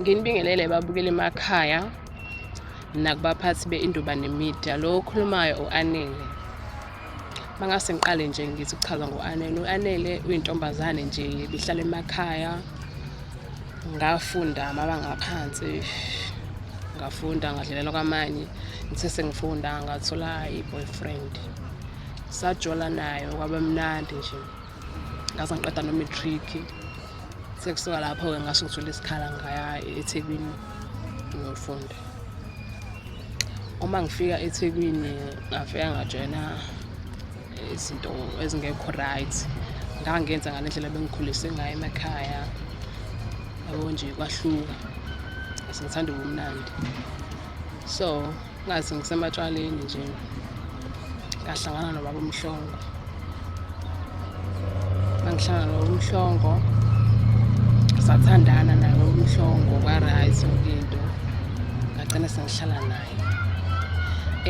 nginibingelele babukele emakhaya nakubaphathi be-indubane media lo okhulumayo u-anele Mangase ngiqale nje ngithi kuchaza ngo-Anele. U-Anele uyintombazane nje bihlala emakhaya. Ngafunda amabanga aphansi. Ngafunda ngadlelelwa kwamanye. Ngithe sengifunda ngathola i-boyfriend. Sajola nayo kwaba mnandi nje. ngaze ngiqeda no-matric sekusuka lapho-ke ngasho ngithole isikhala ngaya ethekwini ngiyofunda uma ngifika ethekwini ngafika ngajoyina izinto ezingekho right ngangenza ngale ndlela bengikhulise ngayo emakhaya yabo nje kwahluka sengithanda ubumnandi so ngazi ngisematshwaleni nje ngahlangana nobaba umhlongo ngihlangana nobaba umhlongo sathandana naye baba umhlongo kwaright yonke into ngagcina sengihlala naye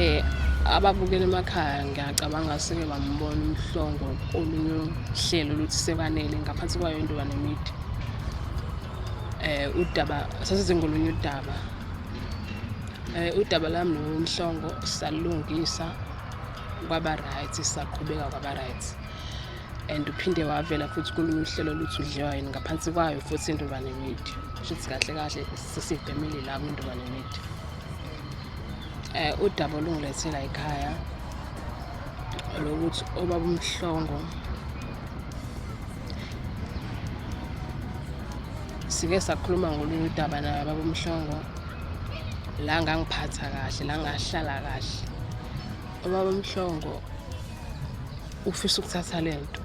eh ababukela emakhaya ngiyacabanga seke bambona umhlongo olunye uhlelo oluthi sekwanele ngaphansi kwayo intoba nemidi um eh, udaba sasizengolunye udaba Eh, udaba lami nomhlongo salulungisa kwaba right saqhubeka kwaba right and uphinde wavela futhi kulunye uhlelo luthi udliwa yini ngaphansi kwayo futhi intobane media shuthi kahle kahle sesibhemile la kwintobane media um eh, udaba olungilethela ekhaya lokuthi obaba umhlongo sike sakhuluma ngolunye udaba naye baba umhlongo la ngangiphatha kahle la ngahlala kahle ubaba mhlongo ufisa ukuthatha le nto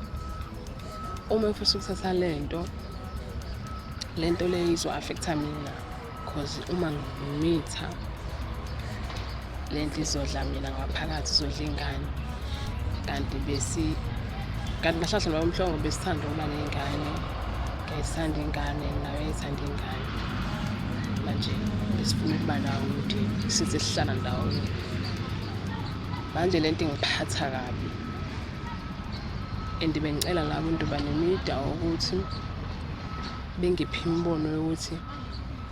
uma ufisa ukuthatha le nto le nto leyo izo-affektha mina because uma ngimitha le ndlu izodla mina ngaphakathi izodla ingane kanti besi kanti ngahlahla noma umhlongo besithanda ukuba ney'ngane ngiyayithanda ingane nayo yayithanda ingane manje besifuna ukuba nawo ukuthi size sihlala ndawonye manje le nto ingiphatha kabi and bengicela nabo into banemida ukuthi bengiphi imibono yokuthi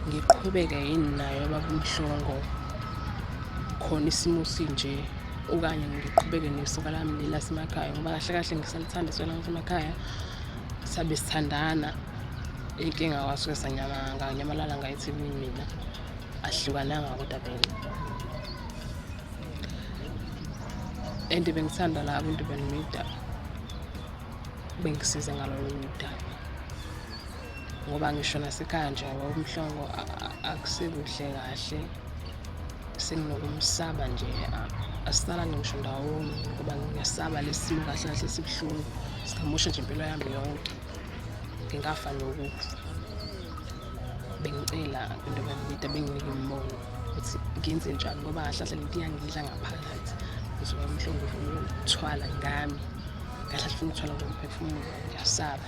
ngiqhubeke yini nayo baba umhlongo khona isimo sinje okanye ngiqhubeke nesoka lami leli lasemakhaya ngoba kahle kahle ngisalithanda isoka lami lasemakhaya sabe sithandana inkinga kwasuke sanyamanganyamalala ngayethimini mina ahlukananga kodwa vele and bengithanda la abantu benimida bengisize ngalolo mdaba ngoba ngisho nasekhaya nje umhlongo akusekuhle kahle senginokumsaba nje asisalani ngisho ndawonye ngoba ngiyasaba lesimo kahle kahle sibuhlungu singamosha nje impilo yami yonke ngingafa nokufa bengicela into bangibida benginike umbono ukuthi ngenze njani ngoba kahle kahle lento iyangidla ngaphakathi ngizoba mhlongo ufuna ukuthwala ngami kahle kahle ufuna ukuthwala ngomphefumulo ngiyasaba